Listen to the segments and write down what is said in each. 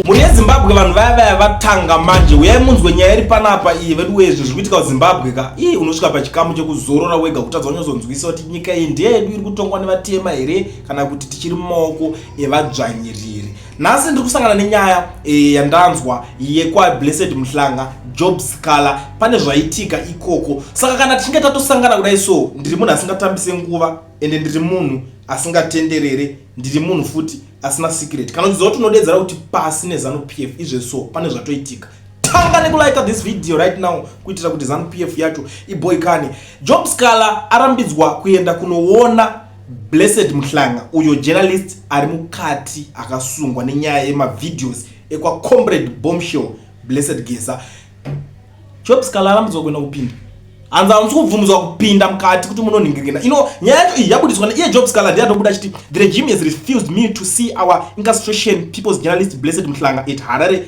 mune zimbabwe vanhu vaya vaya vatanga manje uyai munzwe nyaya iri panapa iyi veduwee zvinhu zvikuitika kuzimbabwe ka ii unosvika pachikamu chekuzorora wega kutadza kunyazonzwisa kuti nyika iyi ndeyedu iri kutongwa nevatema here kana kuti tichiri mumaoko evadzvanyiriri nhasi ndiri kusangana nenyaya e, yandanzwa yekwablessed muhlanga job scala pane zvaitika ikoko saka kana tichinge tatosangana kudai so ndiri munhu asingatambise nguva ende ndiri munhu asingatenderere ndiri munhu futi asina secret kana uchiziva kuti unodedzera kuti pasi nezanu p f izve so pane zvatoitika tanga nekulika this video right now kuitira kuti zanu p f yacho iboikane job scala arambidzwa kuenda kunoona blessed muhlanga uyo journalist ari mukati akasungwa nenyaya yemavideos ekwacomrade bombshell blessed gesa Job Scalala amudzwa kuenda kupinda. Hanzi hamusi kubvumidzwa kupinda mukati kuti munonhingirikina. Ino nyaya yacho iyi yabudiswa neiye Job Scalala ndiye anobuda achiti the regime has refused me to see our incarceration people's journalist Blessed Mhlanga at Harare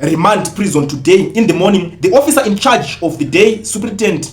remand prison today in the morning. The officer in charge of the day, Superintendent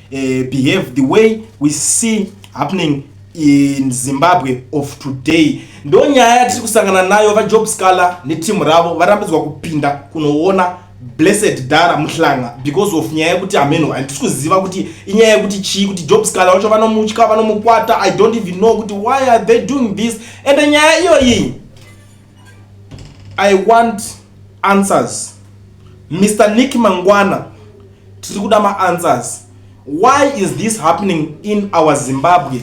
uh, behave the way we see happening in zimbabwe of today ndo nyaya yatiri kusangana nayo vajob scaler netimu ravo varambidzwa kupinda kunoona blessed dara muhlanga because of nyaya yekuti hameno handisi kuziva kuti inyaya yekuti chii kuti job scaler vacho vanomutya vanomukwata i don't even know kuti why are they doing this ende nyaya iyoyi I want answers Mr Nick Mangwana tiri kuda ma answers why is this happening in our Zimbabwe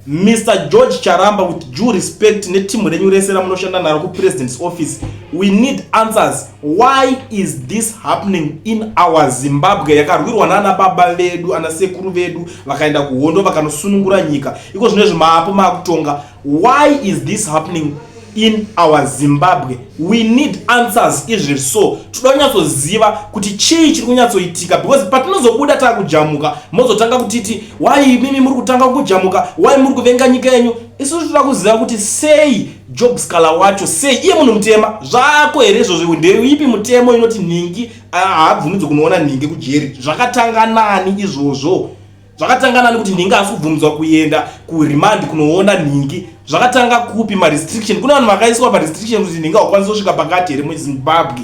Mr George Charamba with due respect ne team renyu rese ramunoshanda naro ku president's office we need answers why is this happening in our Zimbabwe yakarwirwa nana baba vedu ana sekuru vedu vakaenda kuhondo vakanosunungura nyika iko zvino zvimaapo maakutonga Why is this happening in our Zimbabwe? We need answers izvi so toda kunyatsoziva kuti chii chiri kunyatsoitika because patinozobuda takujamuka mozotanga kutiti why imimi muri kutanga kujamuka why muri kuvenga nyika yenyu isu toda kuziva kuti sei job scala wacho sei iye munhu mutema zvako here izvozvo ndeipi mutemo inoti nhingi haabvumidzo kunoona nhingi kujeri zvakatanga nani izvozvo zvakatanga nani kuti nhingi asi kubvumidzwa kuenda kuremand kunoona nhingi zvakatanga kupi marestriction kune vanhu vakaiswa parestriction kuti nhingi haukwanisi kusvika pakati here muzimbabwe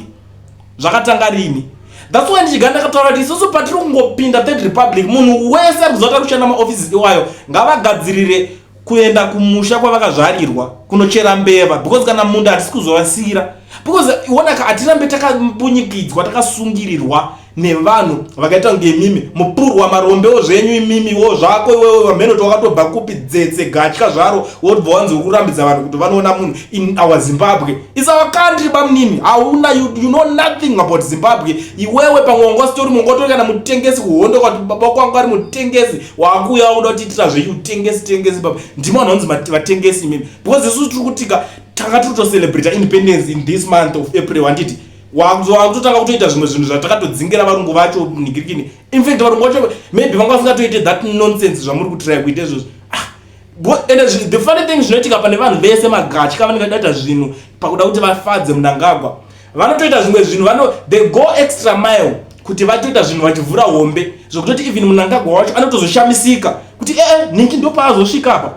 zvakatanga rini thats why ndichiga ndakataura kuti isusu patiri kungopinda third republic munhu wese ari kuziva tari kushanda maoffices iwayo ngavagadzirire kuenda kumusha kwavakazvarirwa kunochera mbeva because kana munda hatisi kuzovasiyira because onaka hatirambe takambunyikidzwa takasungirirwa nevanhu vakaita kunge imimi mupurwa marombewo zvenyu imimi wo zvako iwewe vamhenoti wakatobva kupi dzetse gatya zvaro wobva wanzi uri kurambidza vanhu kuti vanoona munhu in our zimbabwe is our country bamunini hauna you, you know nothing about zimbabwe iwewe pamwe wanga usitori munhu ngotori kana mutengesi kuhondo kwati baba kwangu ari mutengesi wakuuya wakuda kutiitira zvenyu utengesi tengesi baba ndimo vanhu vanzi vatengesi imimi because isusu tiri kutika tanga tiri kutocelebrata independence in this month of april wanditi wanzwa wakutotanga kutoita zvimwe zvinhu zvatakatodzingira varungu vacho nigirikini infact varungu vacho maybe vanga vasingatoite that nonsense zvamuri kutiraya kuita izvozvo ah, and the funny thing zvinoitika pane vanhu vese magachi ka vanenge daita zvinhu pakuda kuti vafadze munangagwa vanotoita zvimwe zvinhu vano they go extra mile kuti vatoita zvinhu vachivhura hombe zvokutoti even munangagwa wacho anotozoshamisika kuti ee eh, eh, nhingi ndopaazosvika apa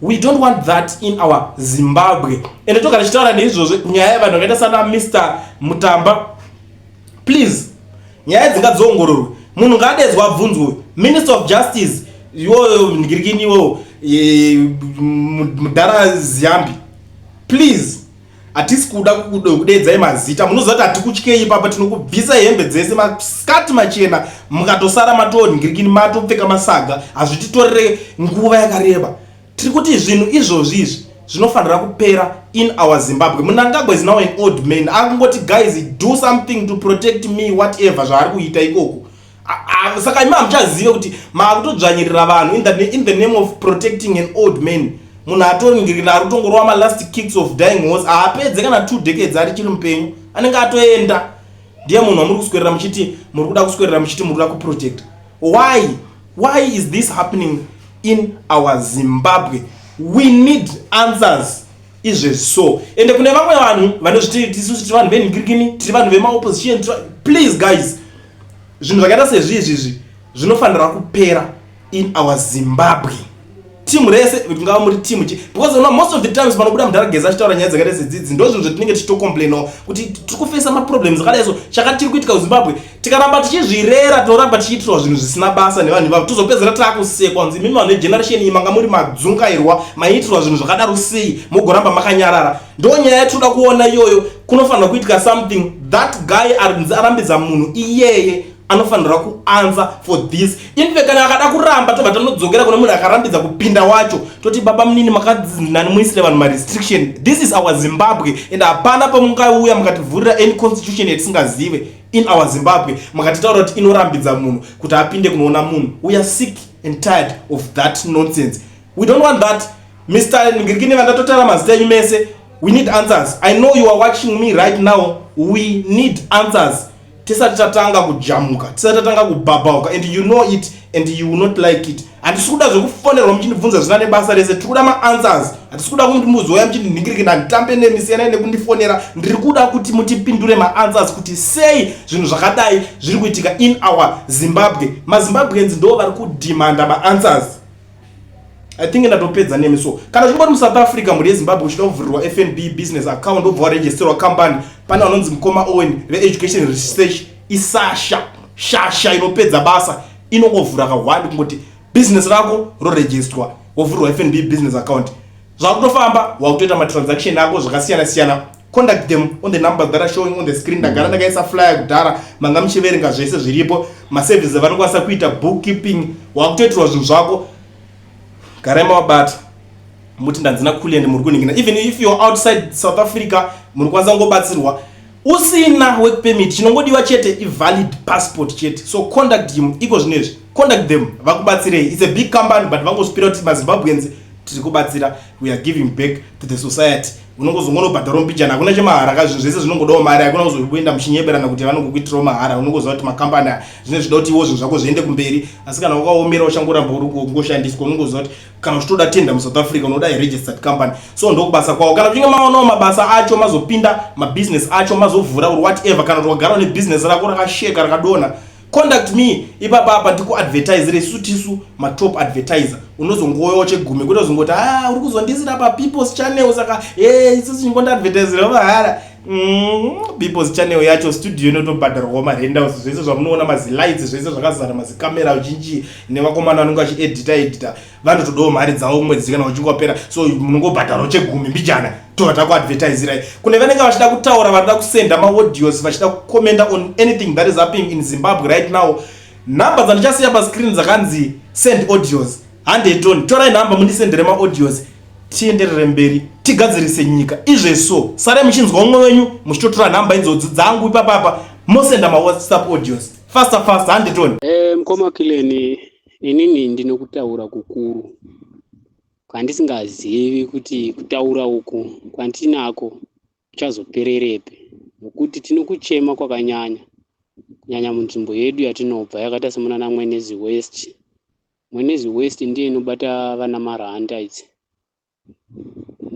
we don't want that in our zimbabwe ende togara tichitaura neizvozvo nyaya yevanhu vakaita sana mr mutamba please nyaya dzinga dziongororwe munhu ngaadedzwa abvunzwe minister of justice iwoyo mndikirikini iwowo mudhara ziyambi please hatisi kuda kudeedzai mazita munoziva kuti hatikutyei ipapa tinokubvisa hembe dzese maskati machena mukatosara matonhirikini matopfeka masaga hazvititorere nguva yakareba tiri kuti zvinhu izvozvi izvi zvinofanira kupera in our zimbabwe munangagwa is now an old man akungoti guys do something to protect me whatever zvaari kuita ikoko saka imi hamuchazive kuti maakutodzvanyirira vanhu in the, in the name of protecting an old man munhu atoningirira ari kutongorova malast kicks of dying horse haapedze kana two decades ari chiri mupenyu anenge atoenda ndiye munhu wamuri kuswerera muchiti muri kuda kuswerera muchiti muri kuda kuprotecta why why is this happening in our zimbabwe we need answers izvezvi so ende kune vamwe vanhu vanozviti tisu tiri vanhu venhigirikini tiri vanhu vemaopposition please guys zvinhu zvakaita sezvizvi izvi zvinofanirwa kupera in our zimbabwe team rese kungava muri team chi because una most of the times panobuda mudhara geza achitaura nyaya dzakaita sedzidzi ndo zvinhu zvatinenge tichitocomplainawo kuti tiri kufesa maproblems akadai so chakati tiri kuitika kuzimbabwe tikaramba tichizvirera tinoramba tichiitirwa zvinhu zvisina basa nevanhu ivavo tozopedzera taakusekwa nzi imimi vanhu vegeneration iyi manga muri madzungairwa maiitirwa zvinhu zvakadaro sei mogoramba makanyarara ndo nyaya yatinoda kuona iyoyo kunofanirwa kuitika something that guy arinzi arambidza munhu iyeye anofanirwa kuansa for this inve kana akada kuramba tobva tanodzokera kune munhu akarambidza kupinda wacho toti baba munini makazinani muisire vanhu marestriction this is our zimbabwe and hapana pamungauya mukativhurira any constitution yatisingazive in our zimbabwe makatitaura kuti inorambidza munhu kuti apinde kunoona munhu we are sick and tired of that nonsense we don't want that mr ngirikini vandatotara mazita enyu mese we need answers i know you are watching me right now we need answers tisati tatanga kujamuka tisati tatanga kubhabhauka and you know it and you will not like it hatisi kuda zvekufonerwa muchindibvunza zvina nebasa rese tiri kuda maanswers hatisi kuda kuti muzoya muchindinhingirike ndanditambe nemi siyanai nekundifonera ndiri kuda kuti mutipindure maanswers kuti sei zvinhu zvakadai zviri kuitika in our zimbabwe mazimbabweans ndo vari kudhimanda maanswers I think ndatopedza nemi so kana zvingori musouth africa mhuri yezimbabwe uchida kuvhurirwa fnb business account obva waregisterwa company pane vanonzi mukoma owen veeducation research isasha shasha inopedza basa inongovhura kahwani kungoti business rako roregistrwa wovhurirwa fnb business account zvakutofamba wakutoita matransaction ako zvakasiyana siyana contact them on the numbers that are showing on the screen ndagara mm. ndakaisa flyer kudhara manga muchiverenga zvese zviripo maservices avanokwanisa kuita bookkeeping wakutoitirwa zvinhu zvako garai mavabata muti ndanzina kulia ndimuri kuningina even if you're outside south africa munokwanisa kungobatsirwa usina work permit chinongodiwa chete ivalid passport chete so contact him iko zvino izvi contact them vakubatsirei its a big company but vangozvipira kuti mazimbabweans tiri kubatsira we are giving back to the society unongozongonobhadharo mbijana hakuna chemahara ka zvinhu zvese zvinongodawo mari hakuna kuzoenda muchinyeberana kuti vanongokuitirawo mahara unongoziva kuti makambani a zvine zvida kuti iwo zvinhu zvako zviende kumberi asi kana wakaomera uchangoramba uri kungoshandiswa unongoziva kuti kana uchitoda tender muSouth Africa unoda a registered company so ndokubasa kwawo kana kuchinge maonawo mabasa acho mazopinda mabusiness acho mazovhura or whatever kana kuti wagarawo nebusiness rako rakasheka rakadona conduct me ipapa apa ndikuadvertisere isu tisu matop advertiser unozongoyawo chegume kuti uzongoti a ah, uri kuzondisira pa peoples channel saka e isu chingondiadvertisera mahara Mm-hmm. peoples channel yacho studio inotobhadharwawo marendaus zvese zvamunoona mazilights zvese zvakazara mazikamera zhinji nevakomana vanenge vachiedita edita vanotodawo mari dzavo mwedzi kana uchinge wapera so munongobhadharo chegumi mbijana tova takuadvertiserai kune vanenge vachida kutaura vanoda kusenda maaudios vachida kucomenda on anything that is happening in zimbabwe right now number dzandichasiya pascreen dzakanzi send audios handetoni torai number mundisendere maaudios tienderere mberi tigadzirise nyika izve so sare muchinzwa umwe wenyu muchitotora number idzodzi dzangu ipapapa mosenda mawhatsapp audios faster faster hande toni eh mkoma kileni inini ndinokutaura kukuru kwandisingazivi kuti kutaura uku kwantinako kuchazopererepi nokuti tinokuchema kwakanyanya kunyanya munzvimbo yedu yatinobva yakaita semunana mwenezi west mwenezi west ndiye inobata vana maranda idzi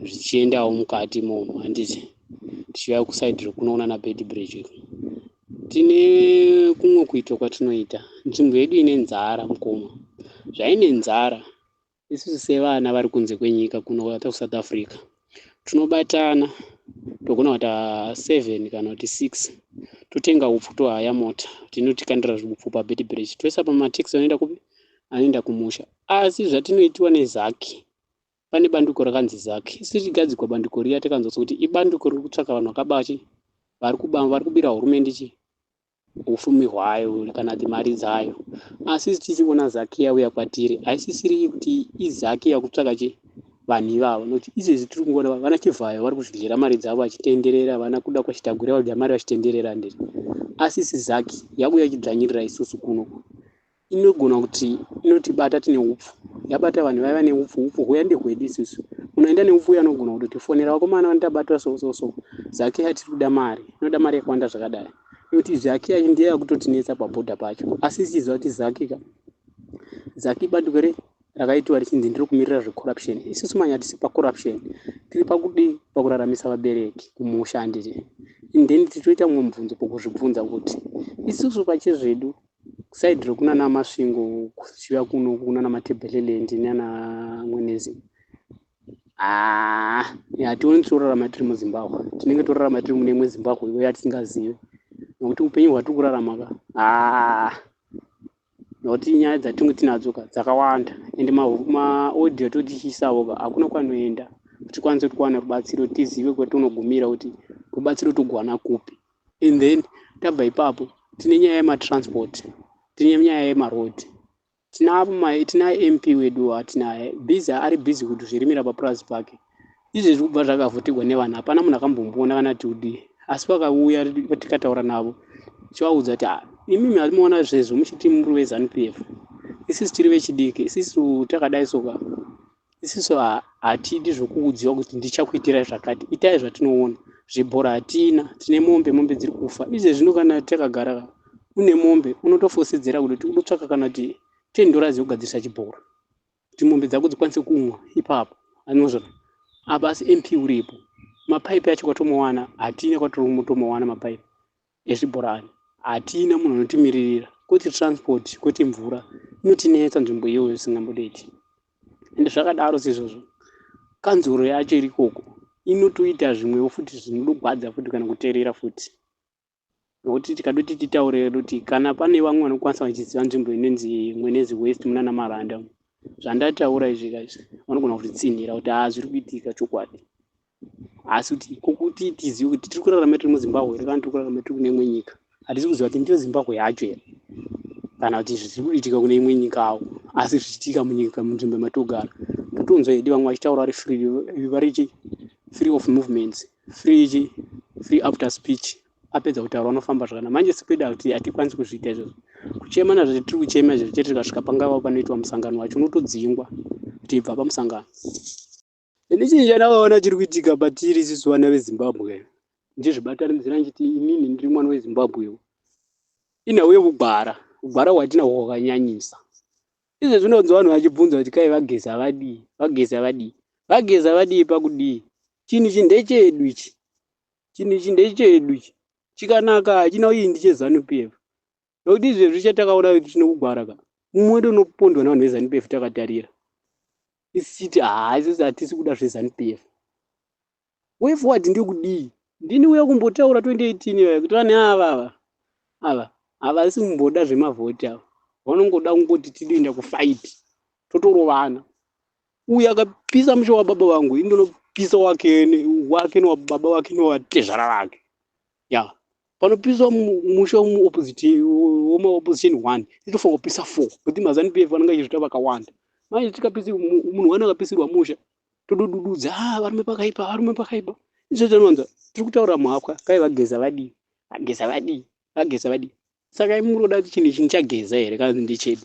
zvichiendawo mukati imomo handiti tichiuya kusaidi rekunoona nabedi bridge tine kumwe kuitwa kwatinoita nzvimbo yedu ine nzara mukoma zvaine nzara isusu sevana vari kunze kwenyika kuno vata kusouth africa tinobatana togona kuita seven kana kuti six totenga upfu tohaya mota tinotikandira zvipfu pabedi bridge toisa pamataxi anoenda kupi anoenda kumusha asi zvatinoitiwa nezaki pane bandiko rakanzi zak isu richigadzikwa bandiko riya takanzwa sokuti ibandiko riri kutsvaka vanhu vakaba chi vari kubama vari kubira hurumende chi ufumi hwayo kana ti mari dzayo asi isi tichiona zaki yauya kwatiri haisisiri kuti izaki yakutsvaka chi vanhu ivavo nokuti izvezvi tiri kungoona vana chivhayo vari kuzvidyira mari dzavo vachitenderera vana kuda kwachitagure vari kudya mari vachitenderera ndiri asi isi zaki yakuya ichidzvanyirira isusu kuno inogona kuti inotibata tine upfu yabata vanhu vaiva neupfu upfu huya ndehwedu isusu unoenda neupfu uya anogona kuti tifonera vakomana vanotabatwa so so so zake hatiri kuda mari inoda mari yakawanda zvakadai nekuti zake yacho ndiye yakutotinetsa pabhodha pacho asi sichiziva kuti zake ka zake ibandiko re rakaitiwa richinzi ndiri kumirira zvecorruption isusu manya tisi pacorruption tiri pakudii pakuraramisa vabereki kumushandiri then tichitoita mumwe mubvunzo pokuzvibvunza kuti isusu pachezvedu side rekunana masvingo kuchiva kuno kunana matebheleland nana mwenezi haa hationi tichirarama tiri muzimbabwe tinenge torarama tiri mune imwe zimbabwe ivo yatisingazivi nokuti upenyu hwatiri kurarama ka haa nokuti nyaya dzatinge tinadzo ka dzakawanda ende maaudio totichisavo ka hakuna kwanoenda tikwanise kuti kuwana rubatsiro tizive kwetinogumira kuti rubatsiro toguwana kupi and then tabva ipapo tine nyaya yematransport tine nyaya yemaroad tinamp wedu atinaye busy ari busy kuti zvirimira papurazi pake izvi zviri kubva zvakavhotegwa nevana hapana munhu akambomboona kana ti udii asi vakauya tikataura navo tichivaudza kuti ah, imi mamoona zvezvo muchiti muri vezanup f isisi tiri vechidiki isisi takadai soka Isusu hatidi zvokuudziwa kuti ndichakuitirai zvakati, itai zvatinoona. Zvebhora hatina, tine mombe, mombe dziri kufa. Izve zvino kana takagara une mombe unotofosedzera kuda kuti unotsvaka kana kuti ten dollars yokugadzirisa chibhora kuti mombe dzako dzikwanise kumwa ipapo anozvona apa asi mp uripo mapaipi acho kwatomawana hatina kwatomotomawana mapaipi yechibhorani. Hatina munhu anotimiririra kwete transport kwete mvura inotinetsa nzvimbo iyoyo zvisingambodeti ende zvakadaro seizvozvo kanzuro yacho iri koko inotoita zvimwewo futi zvinodogwadza futi kana kuterera futi nokuti tikadoti titaure kuti kana pane vamwe vanokwanisa vachiziva nzvimbo inonzi mwenezi west munana maranda zvandataura izvi kaizvi vanogona kutitsinhira kuti haa zviri kuitika chokwadi asi kuti kokuti tizive kuti tiri kurarama tiri muzimbabwe here kana tiri kurarama tiri kune imwe nyika hatisi kuziva kuti ndiyo zimbabwe yacho here kana kuti zviri kuitika kune imwe nyikawo asi zvichiitika munyika munzvimbo yamatogara totonzwa hedi vamwe vachitaura vari free vari chi free of movements free chi free after speech apedza kutaura unofamba zvakana manje sikuida kuti hatikwanisi kuzviita izvozvo kuchema nazvo tiri kuchema izvozvo chete tikasvika pangava panoitwa musangano wacho unotodzingwa kuti ibva pamusangano ini chinhu chandakaona chiri kuitika patiri isisu vana vezimbabwe ndizvibatanidzira ndichiti inini ndiri mwana wezimbabwe inhau yekugwara kugwara kwatinako kwakanyanyisa izvezvi unonzi vanhu vachibvunza kuti kai vagezi avadii vagezi avadii vagezi avadii pakudii chinhu ichi ndechedu ichi chinhu ichi ndechedu ichi chikanaka hachina uyi ndichezanu pf nokuti izvezvi chatakaona kuti tine kugwara ka mumwe wedu unopondwa nevanhu veZanu PF takatarira isichiti haa isusu hatisi kuda zveZanu PF way forward ndekudii ndini uya kumbotaura 2018 yaya kuti vanhu ava ava ava havasi kumboda zvemavhoti ava vanongoda kungoti tidoenda kufaiti totorovana uyu akapisa mushe wababa vangu ini ndinopisa wake wake newababa wake newatezvara vake ya panopiswa musha wemaopposition one titofanira kupisa four kuti mazanu pf vanenge achizvita vakawanda manje tikapisi munhu wani akapisirwa musha tododududza ha ah, varume pakaipa varume pakaipa izvo tinowanza tiri kutaura mhapwa kai vageza vadii vageza vadii vageza vadii Saka imi muri kuda kuti chinhu ichi ndichageza here kana kuti ndechedu?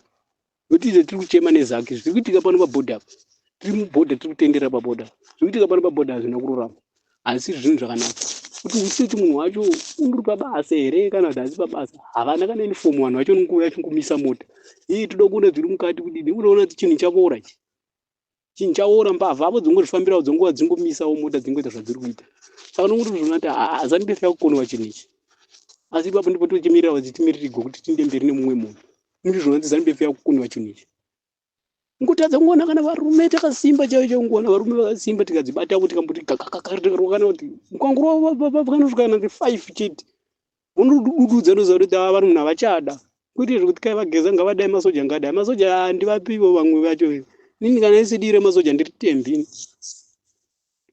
Nokuti izvo tiri kuchema nezvake zviri kuitika pano pabhodha apa. Tiri mubhodha tiri kutenderera pabhodha apa. Zviri kuitika pano pabhodha hazvina kururama. Hazvisi zvinhu zvakanaka. Kuti uzive kuti munhu wacho uri pabasa here kana kuti haasi pabasa. Havana kana inifomu vanhu vacho nguva yacho kumisa mota. Hii toda kuona zviri mukati kudini. Unoona kuti chinhu chakaora ichi. chinja woona mbavha havo dzongozvifambirawo dzongova dzingomisawo mota dzingoita zvadziri kuita saka nongoto zvoona kuti haa zanu pf yakukonewa chinhu ichi asi ipapo ndipo tochimirira kuti timiririgwe kuti tiinde mberi nemumwe munhu mundizvoona kuti zanu pf yakukonewa chinhu ichi ngotadza kungoona kana varume takasimba chaivo chaivo kungoona varume vakasimba tikadzibatavo tikamboti kakakakakakana kuti mukangurova vakanosvika kana five chete unodududza ndoziva kuti ava vanhu havachada kwete zvekuti kai vageza ngavadai masoja ngadai masoja handivapivo vamwe vacho inini kana isidi remasoja ndiri tembi